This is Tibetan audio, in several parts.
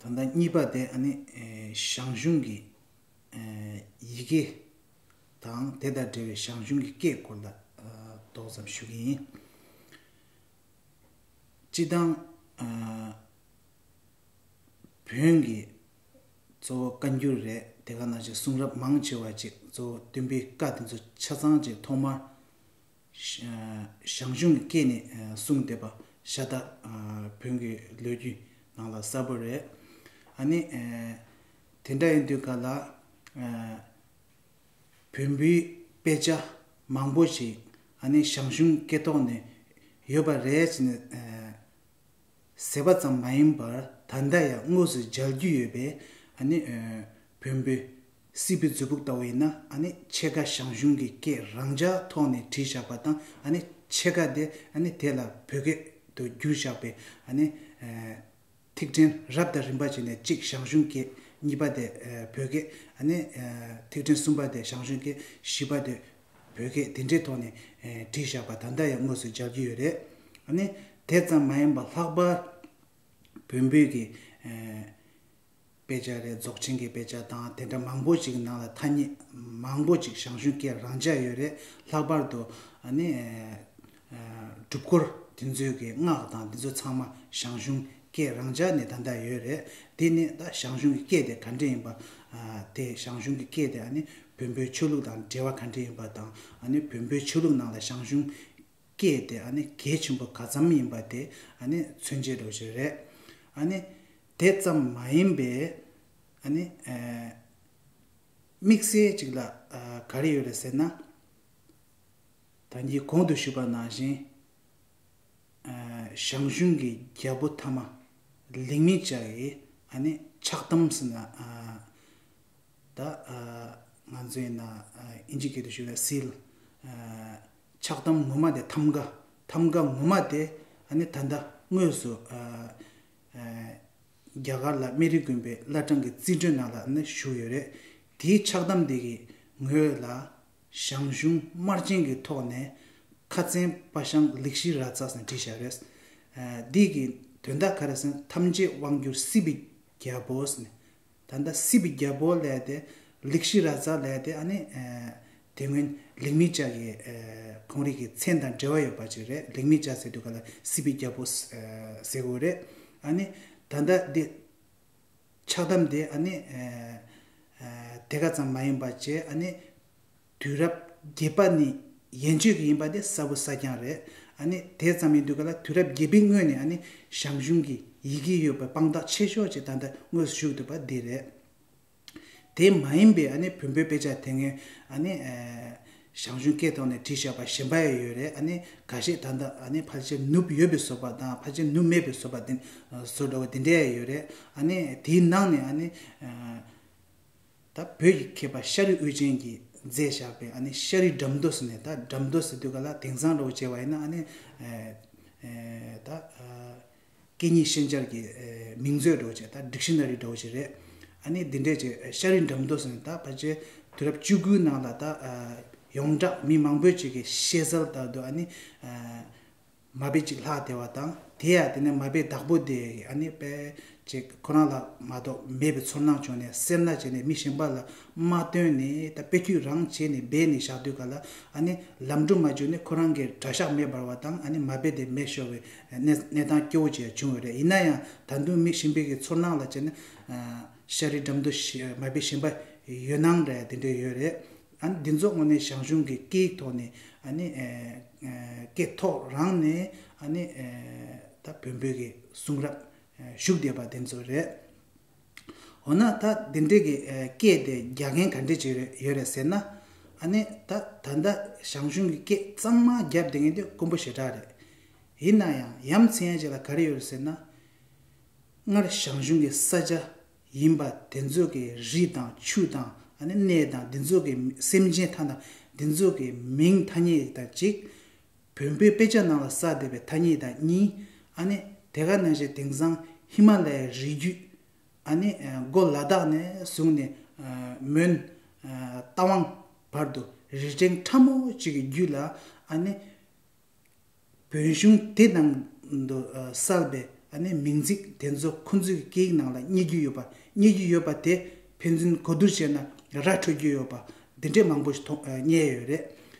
ད་ལྟ་གཉིས་པ་དེ་ནི་ཞང་ཞུང་གི་ཡི་གེ་དང་དེ་དང་འབྲེལ་བའི་ཞང་ཞུང་གི་སྐད་སྐོར་ལ་ཏོག་ཙམ་ཞུ་གི་ཡིན། སྤྱི་བཏང་བོན་གྱི་གཙོ་བོ་བཀའ་འགྱུར་རེད་དེ་ག་ནང་བཞིན་གསུང་རབ་མང་ཆེ་བ་ཅིག་གཙོ་བོ་སྟོན་པའི་བཀའ་དེ་ཚོ་ཆ་ཚང་ཅིག་ཐོག་མར་ཞང་ཞུང་གི་སྐད་ནས་གསུངས་བསྡད་པ་ཤ་སྟག་བོན་གྱི་ལོས་རྒྱུས་ནང་ལ་གསལ་པོ་རེད། ཨ་ནི། དེ་འདྲ་ཡིན་དུས་ག་ལ། བོན་པོའི་དཔེ་ཆ་མང་པོ་ཞིག་ཨ་ནི་ཞང་ཞུང་སྐད་ཐོག་ནས་ཡོད་པ་རེད་ཅེས་ནས། ཟེར་བ་ཙམ་མ་ཡིན་པར་ད་ལྟ་ཡང་དངོས་སུ་སྦྱར་རྒྱུ་ཡོད་པས་ཨ་ནི། བོན་པོའི། སྲིད་པའི་མཛོད་ཕུགས་ལྟ་བུ་ཡིན་ན་ཨ་ནི་ཕྱེད་ཀ་ཞང་ཞུང་གི་སྐད་རང་འཇགས་ཐོག་ནས་བྲིས་བཞག་པ་དང་ཨ་ནི་ཕྱེད་ཀ་དེ་ཨ་ནི་དེ་ལ་བོད་སྐད་དུ་བསྒྱུར་བཞག་པས་ཨ་ནི། ཐིག་ཕྲེང་རབ་དང་རིམ་པ་བྱས་ནས་གཅིག་ཞང་ཞུང་སྐད་གཉིས་པ་དེ་བོད་སྐད་ཨ་ནི། ཐིག་ཕྲེང་གསུམ་པ་དེ་ཞང་ཞུང་སྐད་བཞི་པ་དེ་བོད་སྐད་དེ་འདྲའི་ཐོག་ནས་བྲིས་བཞག་པ་ད་ལྟ་ཡང་དངོས་སུ་སྦྱར་གྱི་ཡོད་རེད། ནི། དེ་ཙམ་མ་ཡིན་པར་ལྷག་པར་བོན་པོའི་གི། དཔེ་ཆ་རེད་རྫོགས་ཆེན་གྱི་དཔེ་ཆ་དང་དེ་འདྲ་མང་པོ་ཞིག་གི་ནང་ལ་ཐ་སྙད་མང་པོ་ཅིག་ཞང་ཞུང་སྐད་རང་སྦྱར་ཡོད་རེད་ལྷག་པར་དུ། ནི། སྒྲུབ་སྐོར་འདི་ཚོའི་གི་སྔགས་དང་འདི་ཚོ་ཚང་མ་ཞང་ཞུང་སྐད་རང་ཅག་ནས་ད་འདའ་ཡོད་རེད་དེ་ནི་ད་ཞང་ཞུང་གི་སྐད་དེ་ག་འདྲས་ཡིན་པ་དེ་ཞང་ཞུང་གི་སྐད་དེ་ཨ་ནི་བོན་པོའི་ཆོས་ལུགས་དང་འབྲེལ་བ་ག་འདྲས་ཡིན་པ་དང་ཨ་ནི་བོན་པོའི་ཆོས་ལུགས་ནང་ལ་ཞང་ཞུང་སྐད་དེ་ཨ་ནི་གལ་ཆེན་པོ་ག་ཙམ་ཡིན་པ་དེ་ཨ་ནི་མཚོན་བྱེད་འགྲོ་བཞིན་རེད་ཨ་ནི་དེ་ཙམ་མ་ཡིན་པས་ཨ་ནི་དམིགས་བསལ་ཅིག་ལ་ག་རེ་ཡོད་རེད་ཟེར་ན། ད་ཉིད་གོང་དུ་ཞུས་པ་ནང་བཞིན། ཞང་ཞུང་གི་རྒྱལ་པོ་དྷརྨ་ལིང་མི་ཅཱ་ཡིས་ཨ་ནི་ཕྱག་དམ་ཟིན་ན། ད་ང་ཚོའི་ཡིན་ན་ཨིན་ཇི་སྐད་དུ་ཞུ་བའི་སིལ། ཕྱག་དམ་ངོ་མ་དེ་ཐམ་ག་ཐམ་ག་ངོ་མ་དེ་ཨ་ནི་ད་ལྟ་དངོས་སུ། རྒྱ་གར་ལ་སྨན་རི་དགོན་པའི་བླ་བྲང་གི་རྩིས་འཕྲུལ་ནང་ལ་ནི་བཞུགས་ཡོད་རེད། དེའི་ཕྱག་དམ་དེ་གི་ངོས་ལ། ཞང་ཞུང་དམར་རྗེན་གྱི་ཐོག་ནས་ཁ་བཙན་པ་ཞང་ལིག་ཤི་ར་ཙག་སེང་བྲིས་བྱ་རེས། འདིས་ཀྱི་དོན་དག་ག་རེ་སེང་ཐམས་ཅད་དབང་བསྒྱུར་སི་བི་རྒྱལ་པོས་ནི། ད་ལྟ་སི་བི་རྒྱལ་པོ་ལས་དེ་ལིག་ཤི་ར་ཙག་ལས་དེ་ཨ་ནི། དེ་སྔོན་ལིག་མི་ཅག་གི་ཁོང་རིགས་ཀྱི་མཚན་དང་འབྲེལ་བ་ཡོད་པ་ཅིག་རེད་ལིག་མི་ཅག་ཟེར་དུས་ག་ལ་སི་བི་རྒྱལ་པོ་ཟེར་དགོས་རེད་ཨ་ནི། ད་ལྟ་འདི། ཆགས་གཏམ་དེ་ཨ་ནི། དེ་ག་ཙམ་མ་ཡིན་པ་བྱས་ཨ་ནི། དུས་རབས་བརྒྱད་པ་ནི་ཡན་ཆོད་ཀྱི་ཡིན་པ་དེ་གསལ་བོ་གསལ་རྐྱང་རེད་ཨ་ནི། དེ་ཙམ་མི་འདུག་ག་ལ་དུས་རབས་བརྒྱད་པའི་སྔོན་ནས་ཨ་ནི་ཞང་ཞུང་གི་ཡི་གེ་ཡོད་པའི་དཔང་རྟགས་ཆེ་ཤོས་ཅིག་ད་ལྟ་དངོས་སུ་བཞུགས་འདུག་པ་འདི་རེད། དེ་མ་ཡིན་པའི་ཨ་ནི་བོན་པོའི་དཔེ་ཆ་དེ་སྔའི་ཨ་ནི། ཞང་ཞུང་སྐད་ཐོག་ནས་བྲིས་བཞག་པ་གཞན་པ་ཡང་ཡོད་རེད་ཨ་ནི་ག་ཤེད་ད་ལྟ་ཨ་ནི་ཕར་ཕྱིར་ནུབ་ཡོད་པའི་བཟོ་པ་དང་ཕར་ཕྱིར་ནུབ་མེད་པའི་བཟོ་པ་དེ་བཟོ་འདྲ་བོ་དེ་འདྲ་ཡང་ཡོད་རེད་ཨ་ནི་དེའི་ནང་ནས་ཨ་ནི་ད་བོད་ཀྱི་མཁས་པ་ཤ་རི་དབུས་ཆེན་གྱིས་མཛད་བཞག་པའི་ཨ་ནི་ཤ་རིའི་འགྲམ་རྡོ་ཟེར་ནས་ད་འགྲམ་རྡོ་ཟེར་དུས་ག་ལ་དེང་སང་འདྲ་བོ་བྱས་པ་ཡིན་ན་ཨ་ནི་ད། སྐད་གཉིས་ཤན་སྦྱར་གྱི་མིང་མཛོད་འགྲོ་བྱེད་དང Dictionary འདྲ་བོ་ཞིག་རེད། ཨ་ནི་འདི་འདྲས་ཀྱི་ཤ་རིགས་འདྲ་མི་འདུག་ཟེར་ནས་ད་ཕར་ཆེར་དུས་རབས་བཅུ་དགུའི་ནང་ད་ལྟ་ཡོངས་གྲགས་མི་མང་པོའི་གཅིག་གི་ཤེས་གསལ་ལྟར་དུ་ཨ་ནི་མ་དཔེ་གཅིག་ལྷག་བདེ་བ་དང་དེ་ཡང་དེ་ནི་མ་དཔེ་བདག་པོ་དེ་ཨ་ནི་དཔེ་གཅིག་ཁོ་རང་ལ་མ་གཏོགས་མེད་པའི་ཚོར་སྣང་བྱུང་ནས་སེར་སྣ་བྱས་ནས་མི་གཞན་པ་ལ་མ་སྟོན་ནས་ད་དཔེ་ཁྱུད་རང་བྱས་ནས་སྦས་ནས་བཞག་དུས་ག་ལ་ཨ་ནི་ལམ་འགྲུལ་མ་བྱུང་ནས་ཁོ་རང་གི་གྲྭ་ཤག་མེ་འབར་བ་དང་ཨ་ནི་མ་དཔེ་དེ་མེར་ཤོར་བའི་ནད་དང་སྐྱེ་བོ་བཅས་འབྱུང་བས་རེད་ཡིན་ན་ཡང་ད་དུང་མིག་ཞིམ་པའི་གི་ཚོར་སྣང་ལ་བཅས་ན། ཤ་རིའི་འགྲམ་དུ་མ་དཔེ་ཞིམ་པ་ཡོད་སྣང་རེད་དེ་འདྲས་ཡོད་རེད། ཨཱ་འདི་ཚོ་དངོས་གནས་ཞང་ཞུང་གི་སྐད་ཡིག་ཐོག་ནས་ཨཱ་ནི། སྐད་ཐོག་རང་ནས་ཨཱ་ནི། ད་བོན་པོའི་གི་གསུང་རབ་བཞུགས་བསྡད་པ་དེ་ཚོ་རེད། འོ་ན་ད་འདི་འདྲས་ཀྱི་སྐད་དེ་རྒྱག་མཁན་ག་འདྲས་ཀྱི་ཡོད་རེད་ཟེར་ན། ཨ་ནི་ད་ད་ལྟ་ཞང་ཞུང་གི་སྐད་གཙང་མ་རྒྱབ་བསྡད་མཁན་དེ་དཀོན་པོ་ཞེ་དྲག་རེད། ཡིན་ན་ཡང་ཡ་མཚན་ཡ་གཅིག་ལ་ག་རེ་ཡོད་རེད་ཟེར་ན། སྔར་ཞང་ཞུང་གི་ས་ཆ་ཡིན་པ་དེ་ཚོ་གི་རི་དང་ཆུ་དང་ཨ་ནི་གནས་དང་འདི་ཚོ་གི་སེམས་ཅན་ཐ་དང་འདི་ཚོ་གི་མིང་ཐ་སྙད་དང་ཅིག་བོན་པོའི་དཔེ་ཆ་ནང་ལ་ས་དེ་བའི་ཐ་སྙད་དང་གཉིས། ཨ་ནེ། དེ་ག་ནང་བཞིན་དེང་བཟང་ཧི་མ་ལ་ཡའི་རི་རྒྱུད། ཨ་ནེ། མགོ་ལ་དྭགས་ནས་བཟུང་ནས། མོན། རྟ་དབང། བར་དུ་རི་སྤྲིན་ཕྲ་མོ་གཅིག་གི་རྒྱུད་ལ། ཨ་ནེ། བོན་གཞུང་དེ་ནང་དུ་གསལ་བའི་ཨ་ནེ་མིང་ཚིག་དེ་ཚོ་ཁོ་ཚོའི་སྐད་ཡིག་ནང་ལ་རྙེད་རྒྱུ་ཡོད་པ། རྙེད་རྒྱུ་ཡོད་པ་དེ་ཕན་ཚུན་གོ་བསྡུར་བྱས་ན་ར་འཕྲོད་རྒྱུ་ཡོད་པ། འདི་འདྲའི་མང་པོ་ཞིག་མཐོང་རྙེད་ཡོད་རེད།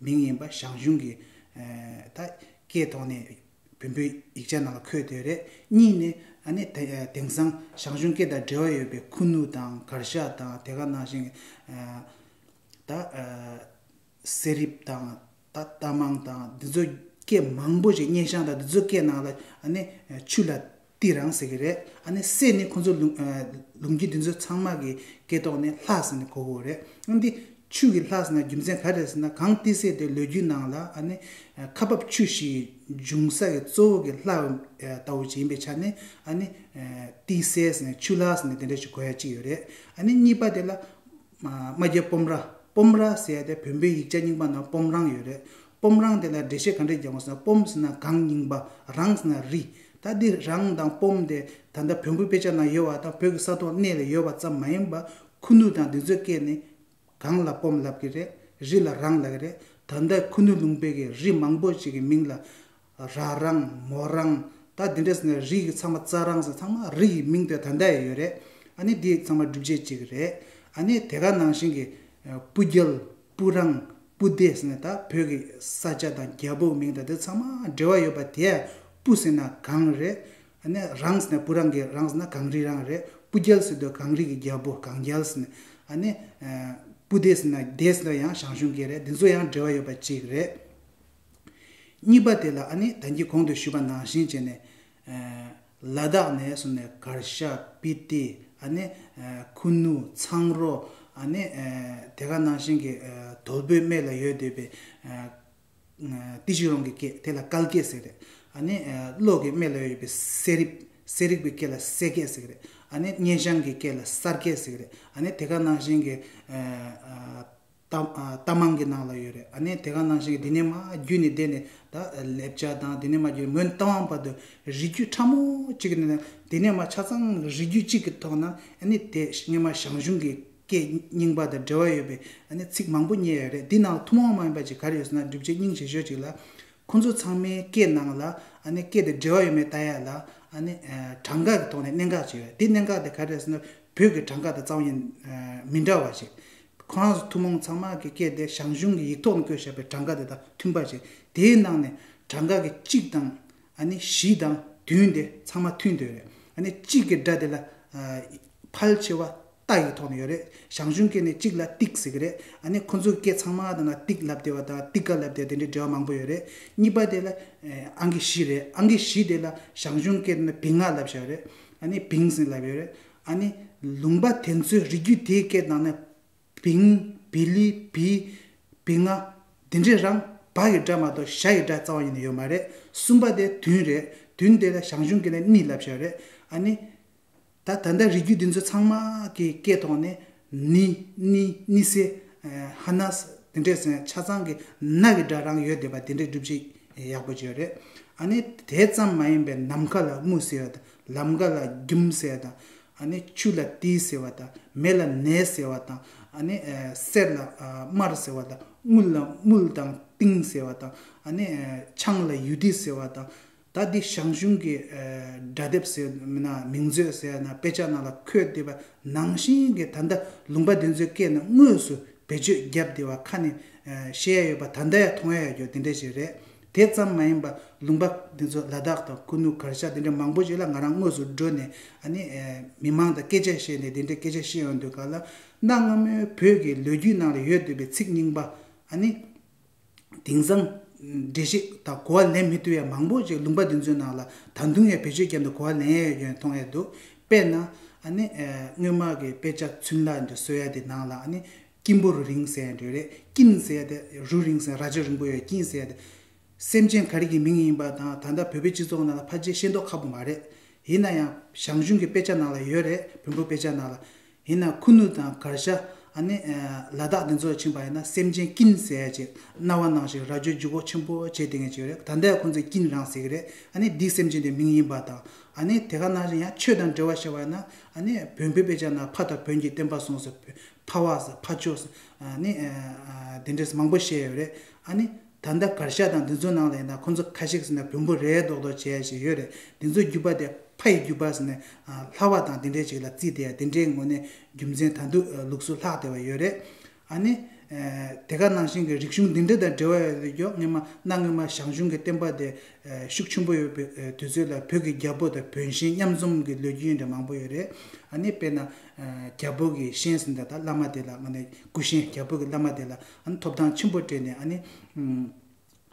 མིང་ཡིན་པ་ཞང་ཞུང་གི་ད་སྐད་ཐོག་ནས་བོན་པོའི་ཡིག་ཆ་ནང་ལ་འཁོད་དོན་རེད་གཉིས་ནི་ཨ་ནི་དེང་སང་ཞང་ཞུང་སྐད་དང་འབྲེལ་བ་ཡོད་པའི་ཁུ་ནུ་དང་གར་ཤ་དང་དེ་ག་ནང་བཞིན་གྱི་ད་གསེར་རིབ་དང་ད་རྟ་མང་དང་འདི་ཚོ་སྐད་མང་པོ་ཞིག་སྙན་ཞང་དང་འདི་ཚོའི་སྐད་ནང་ལ་ཨ་ནི་ཆུ་ལ། ཏི་རང་ཟེར་གྱི་རེད་ཨ་ནི་སྲས་ནི་ཁོ་ཚོ་ལུང་རྒྱུད་འདི་ཚོའི་ཚང་མ་གི་སྐད་ཐོག་ནས་ལྷག་ཟེར་ནས་གོ་གི་འོ་རེད་ཨ་འདི་ཆུ་གི་ལྷག་ཟེར་ན་རྒྱུ་མཚན་ག་རེད་ཟེར་ན་གངས་ཏི་སེ་དེ་ལོས་རྒྱུས་ནང་ལ་ཨ་ནི་ཁ་འབབ་ཆུ་བཞི་འབྱུང་ས་གི་གཙོ་བོ་གི་ལྷག་ལྟ་བུ་ཅིག་ཡིན་པའི་ཆ་ནས་ཨ་ནི་ཏི་སེ་ཟེར་ནས་ཆུ་ལྷག་ཟེར་ནས་དེ་འདྲ་ཞིག་གོ་ཡ་ཅིག་ཡོད་རེད་ཨ་ནི་གཉིས་པ་དེ་ལ་རྨ་རྒྱལ་སྤོམ་ར། སྤོམ་ར་ཟེར་ཏེ་བོན་པོའི་ཡིག་ཆ་རྙིང་པ་ནང་སྤོམ་རང་ཡོད་རེད། སྤོམ་རང་དེ་ལ་འགྲེལ་བཤད་ག་འདྲས་རྒྱག་དགོས་ཟེར་ན་སྤོམ་ཟེར་ན་གངས་རྙིང་པ། རང་ཟེར་ན་རི། ད་འདི་རང་དང་སྤོམ་དེ་ད་ལྟ་བོན་པོའི་དཔེ་ཆ་ནང་ཡོད་བ་དང་བོད་ཀྱི་ས་ཐོག་གནས་ལས་ཡོད་བ་ཙམ་མ་ཡིན་པར་ཁུ་ནུ་དང་འདི་ཚོའི་སྐད་ནི། གངས་ལ་སྤོམ་ལབ་གི་རེད། རི་ལ་རང་ལབ་གི་རེད། ད་ལྟའི་ཁུ་ནུ་ལུང་པའི་གི་རི་མང་པོ་ཞིག་གི་མིང་ལ། ར་རང། མོ་རང། ད་འདི་འདྲས་ནས་རིགས་ཀྱི་ཚང་མ་རྩ་རང་ཟེར་ཚང་མ་རིགས་ཀྱི་མིང་དེ་ད་ལྟ་ཡོད་རེད། ཨ་ནི་འདི་ཚང་མ་སྒྲུབ་བྱེད་ཅིག་གི་རེད། ཨ་ནི་དེ་ག་ནང་བཞིན་གྱི། སྤུ་རྒྱལ། སྤུ་རང། སྤུ་ལྡེ་ཟེར་ནས་ད་བོད་ཀྱི་ས་ཆ་དང་རྒྱལ་པོ་མིང་ད་དེ་ཚང་མ་འབྲེལ་བ་ཡོད་པ་དེ་སྤུ་ཟེར་ན་གངས་རེད། ཨ་ནི་རང་ཟེར་ནས་སྤུ་རང་གི་རང་ཟེར་ན་གངས་རི་རང་རེད། སྤུ་རྒྱལ་ཟེར་དུས་གངས་རི་གི་རྒྱལ་པོ་གངས་རྒྱལ་ཟེར་ནས། ཨ་ནི། སྤུ་ལྡེ་ཟེར་ན་ལྡེ་ཟེར་ན་ཡང་ཞང་ཞུང་གི་རེད་འདི་ཚོ་ཡང་འབྲེལ་བ་ཡོད་པ་ཅིག་རེད། གཉིས་པ་དེ་ལ་ཨ་ནི་བདག་གིས་གོང་དུ་ཞུས་པ་ནང་བཞིན་བྱས་ནས། ལ་དྭགས་ནས་བཟུང་ནས་གར་ཤ་སྤི་ཏི་ཨ་ནི་ཁུ་ནུ་ཚང་རོ་ཨ་ནི་དེ་ག་ནང་བཞིན་གྱི་དོལ་པོའི་སྨད་ལ་ཡོད་འདོད་པའི། ཏི་ཤི་རོང་གི་སྐད་དེ་ལ་ཀལ་སྐད་ཟེར་རེད་ཨ་ནི་གློག་གི་སྨད་ལ་ཡོད་པའི་སེ་རིབ་སེ་རིག་པའི་སྐད་ལ་སེ་སྐད་ཟེར་རེད་ཨ་ནི་སྙན་ཤང་གི་སྐད་ལ་སར་སྐད་ཟེར་རེད་ཨ་ནི་དེ་ག་ནང་བཞིན་གྱི། རྟ་མང་གི་ནང་ལ་ཡོད་རེད་ཨ་ནེ་དེ་ག་ནང་བཞིན་འདི་ནས་མ་རྒྱུད་ནས་བསྡད་ནས་ད་ལེབ་བྱ་དང་འདི་ནས་མ་རྒྱུད་ནས་མོན་རྟ་བང་བར་དུ་རི་རྒྱུད་ཕྲ་མོ་གཅིག་གི་ནང་ནས་འདི་ནས་མ་ཆ་ཚང་རི་རྒྱུད་གཅིག་གི་ཐོག་ན་ཨ་ནེ་དེ་སྔས་མ་ཞང་ཞུང་གི་སྐད་རྙིང་པ་དང་འབྲེལ་བ་ཡོད་པའི་ཨ་ནེ་ཚིག་མང་པོ་རྙེད་ཡོད་རེད་འདི་ནང་ལ་ཐུ་མོང་མ་ཡིན་པ་ཅིག་ག་རེ་ཡོད་ཟེར་ན་སྒྲུབ་བྱེད་རྙིང་ཞེ་ཞོལ་ཅིག་ལ་ཁོ་ཚོ་ཚང་མའི་སྐད་ནང་ལ་ཨ་ནེ་སྐད་དེ་འབྲེལ་བ་ཡོད་མེད་བལྟ་ཡ་ལ་ཨ་ནེ་གྲངས་ཀ་གི་ཐོག་ནས་གནད་འགག་ཅིག་ཡོད་རེད་འདི་གནད་འགག་དེ་ག་རེ་ཡོད་ཟེར་ན་བོད་ཀྱི་གྲངས་ཀ་དང་གཙང་བོ་མི་འདྲ་བ་ཞིག་ཁོ་རང་ཚོ་ཐུན་མོང་ཚང་མ་གིས་སྐད་དེ་ཞང་ཞུང་གི་ཡིག་ཐོག་ནས་བཀོད་བཞག་པའི་གྲངས་ཀ་དེ་དང་མཐུན་པར་བྱེད། དེའི་ནང་ནས་གྲངས་ཀ་གི་གཅིག་དང། ཨ་ནི་བཞི་དང་བདུན་དེ་ཚང་མ་མཐུན་དོད་རེད། ཨ་ནི་གཅིག་གི་སྒྲ་དེ་ལ། ཕལ་ཆེ་བ། རྟ་ཡིག་ཐོག་ནས་ཡོད་རེད། ཞང་ཞུང་སྐད་ནས་གཅིག་ལ་ཏིག་ཟེར་གི་རེད། ཨ་ནི་ཁོ་ཚོའི་སྐད་ཚང་མ་དང་ལ་ཏིག་ལབ་སྟེ་བ་དང་ཏིག་ཀ་ལབ་སྟེ་དེ་འདྲའི་འབྲེལ་བ་མང་པོ་ཡོད་རེད། གཉིས་པ་དེ་ལ། ཨང་ཀི་བཞི་རེད། ཨང་ཀི་བཞི་དེ་ལ་ཞང་ཞུང་སྐད་དུ་ན་བིང་ཨ་ལབ་བཞག་ཡོད་རེད། ཨ་ནི་བིང་ཟིང་ལབ་ཡོད་རེད། ཨ་ནི། ལུང་པ་དེ་ཚོའི་རིགས་རྒྱུད་དེའི་སྐད་ནང་ནས། བིང། བི་ལི། བི། བི་ང། འདི་འདྲའི་རང། བག་གི་སྒྲ་མ་གཏོགས་ཞྭ་ཡི་སྒྲ་རྩ་བ་ཉིད་ནས་ཡོད་མ་རེད། གསུམ་པ་དེ་དུན་རེད། དུན་དེ་ལ་ཞང་ཞུང་གི་ལན་གཉིས་ལབ་བཞག་རེད། ཨ་ནི། ད་ད་ལྟ་རིགས་རྒྱུད་འདི་ཚོ་ཚང་མ་གི་སྐད་ཐོག་ནས། ནི་ནི་ནི་སེ། ཧ་ན། དེ་འདྲས་སོང་ཡང་ཆ་ཚང་གི་ན་གི་སྒྲ་རང་ཡོད་བསྡད་པ་དེ་འདྲས་སྒྲུབ་བྱེད་ཡག་པོ་བྱོས་རེད། ཨ་ནི་དེ་ཙམ་མ་ཡིན་པའི་ནམ་མཁའ་ལ་དམུ་ཟེར་བ་དང་ལམ་འགའ་ལ་རྒྱུམ་ཟེར་བ་དང། ཨ་ནི་ཆུ་ལ་ཏི་ཟེར་བ་དང་མེ་ལ་ནད་ཟེར་བ་དང། ཨ་ནི་གསེར་ལ་དམར་ཟེར་བ་དང་དངུལ་ལ་དམུལ་དང་ཏིང་ཟེར་བ་དང། ཨ་ནི་ཆང་ལ་ཡུ་ཏི་ཟེར་བ་དང། ད་ལྟའི་ཞང་ཞུང་གི་སྒྲ་དེབ་ཟེར་མི་ན་མིང་མཛོད་ཟེར་ན་དཔེ་ཆ་ནང་ལ་འཁོད་བསྡད་པ་ནང་བཞིན་གྱི་ད་ལྟ་ལུང་པ་དེ་ཚོའི་སྐད་ནང་དངོས་སུ་བེད་སྤྱོད་བརྒྱབ་བསྡད་པ་ཁ་ནས་བཤད་ཡ་ཡོད་པ་ད་ལྟ་ཡ་མཐོང་ཡ་ཡོད་རྒྱུ་དེ་འདྲ་ཞིག་རེད། དེ་ཙམ་མ་ཡིན་པ་ལུང་པ་དེ་ཚོ་ལ་དྭགས་དང་ཁུ་ནུ་གར་ཤ་དེ་འདྲ་མང་པོ་ཞིག་ལ་ང་རང་དངོས་སུ་འགྲོ་ནས་ནི་མི་མང་དང་སྐད་ཆ་བཤད་ནས་དེ་འདྲ་སྐད་ཆ་བཤད་ཡོང་དུས་ག་ལ་ན་སྔ་མོའི་བོད་ཀྱི་ལོས་རྒྱུས་ནང་ལ་ཡོད་བསྡད་པའི་ཚིག་རྙིང་པ་ནི། དེང་སང། འགྲེལ་བཤད་དང་གོ་བ་ལེན་མི་ཐུབ་ཡ་མང་པོ་ཞིག་ལུང་པ་འདི་ཚོའི་ནང་ལ་ད་དུང་ཡང་བེད་སྤྱོད་རྒྱབ་ནས་གོ་བ་ལེན་ཡ་ཡོད་ཀྱང་མཐོང་ཡ་འདུག་དཔེར་ན། ཨ་ནི། སྔོན་མ་གི་དཔེ་ཆ་ཚུན་ལ་འདི་བཟོ་ཡ་དེ་ནང་ལ་ཨ་ནི། སྐྱིན་པོ་རུ་རིང་ཟེར་ཡ་འདུག་རེད་སྐྱིན་ཟེར་ཡ་དེ་རུ་རིང་ཟེར་ཡ་ར་ཅོ་རིང་པོ་ཡོད་སྐྱིན་ཟེར་ཡ་དེ། སེམས་ཅན་ག་རེ་གི་མིང་ཡིན་པ་དང་ད་ལྟ་བོད་པའི་སྤྱི་ཚོགས་ནང་ལ་ཕ་རྗེས་ཤེས་མདོག་ཁ་པོ་མ་རེད། ཡིན་ན་ཡང་ཞང་ཞུང་གི་དཔེ་ཆ་ནང་ལ་ཡོད་རེད་བོན་པོ་དཔེ་ཆ་ནང་ལ། ཡིན་ན་ཁུ་ནུ་དང་གར་ཤ་ནི་ལ་དྭགས་འདི་ཚོར་ཕྱིན་པ་ཡིན་ན་སེམས་ཅན་སྐྱིན་ཟས་བྱེད་རྣ་བ་ནང་བཞིན་རྭ་ཅོ་རྒྱུ་བོ་ཆེན་པོ་བྱེད་དེ་ངས་བྱེད་རེད་ད་ལྟའི་ཁོང་ཚོས་སྐྱིན་རང་ཟེར་གི་རེད་འདིའི་སེམས་ཅན་དེ་མིང་ཡིན་པ་དང་དེ་ག་ནང་བཞིན་ཡང་ཆོས་དང་འབྲེལ་བ་བྱེད་པ་ཡིན་ན་བོན་པོའི་དཔེ་ཆ་ནང་ཕ་དང་བོན་གྱི་བསྟན་པ་སྲུང་སེ་ཕ་བ་སེ་ཕ་ཆོས་སེ་ནི་དེ་འདྲས་མང་པོ་བཤད་ཡོད་རེད་ད་ལྟ་བར་ཤ་དང་དེ་ཚོ་ནང་ལ་ཡིན་ན་ཁོ་ཚོ་ཁ་ཤིག་ཟེར་ན་བོན་པོ་རེད་མདོག་མདོག་བྱས་ཡ་ཞིག་ཡོད་རེད་དེ་ཚོ་རྒྱུད་པ་དེ་ཕ་ཡི་རྒྱུད་པ་ཟེར་ནས་ལྷ་བ་དང་དེ་འདྲས་ཅིག་ལ་བརྩིས་ཏེ་ཡ་དེ་འདྲའི་ངོ་ནས་རྒྱུ་མཚན་ད་འདུག་ལུགས་སུ་ལྷག་བདེ་བ་ཡོད་རེད། ཨ་ནི། དེ་ག་ནང་བཞིན་གྱི་རིག་གཞུང་འདི་འདྲ་དང་འབྲེལ་བ་ཡོད་རེད་ཀྱོ་སྔོན་མ་གནའ་སྔོན་མ་ཞང་ཞུང་གི་བསྟན་པ་དེ་ཤུགས་ཆེན་པོ་ཡོད་པའི་དུས་ཚོད་ལ་བོད་ཀྱི་རྒྱ་བོད་དང་བོན་ཞེན་མཉམ་འཛོམས་ཀྱི་ལོ་རྒྱུས་འདྲ་མང་པོ་ཡོད་རེད་ཨ་ནི་དཔེར་ན། རྒྱ་བོད་ཀྱི་གཤེན་ཟེར་འདྲ་དང་བླ་མ་དེ་ལ་ངོ་ནས་སྐུ་གཤེན་རྒྱ་བོད་ཀྱི་བླ་མ་དེ་ལ་ཨ་ནི་ཐོབ་ཐང་ཆེན་པོ་སྤྲད་ནས་ཨ་ནི།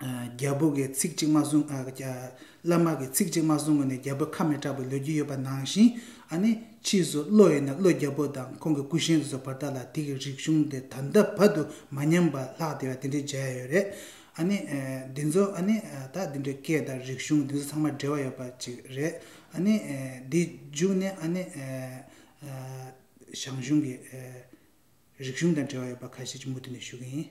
རྒྱལ་པོ་གི་ཚིག་གཅིག་མ་བཟུང། བླ་མ་གི་ཚིག་གཅིག་མ་བཟུང་ངོ་ནས་རྒྱལ་པོའི་ཁ་མི་གྲག་པའི་ལོ་རྒྱུས་ཡོད་པ་ནང་བཞིན་ཨ་ནི། ཕྱིས་སུ་བློ་ཡིན་ན་བློས་རྒྱལ་པོ་དང་ཁོང་གི་སྐུ་གཤེན་དུ་བཟོ་བར་ཐལ་ལ་དེ་གི་རིག་གཞུང་དེ་ད་ལྟ་བར་དུ་མ་ཉམས་པར་ལྷག་དེ་བས་དེ་འདྲའི་མཇལ་ཡ་ཡོད་རེད། ཨ་ནི། འདི་ཚོ་ཨ་ནི། ད་འདི་འདྲའི་སྐད་དང་རིག་གཞུང་འདི་ཚོ་ཚང་མ་འབྲེལ་བ་ཡོད་པ་ཅིག་རེད། ཨ་ནི། འདི་མཇུག་ནས་ཨ་ནི། ཞང་ཞུང་གི། རིག་གཞུང་དང་འབྲེལ་བ་ཡོད་པ་ཁ་ཤས་ཀྱིས་མུ་མཐུད་ནས་ཞུ་གི་ཡིན།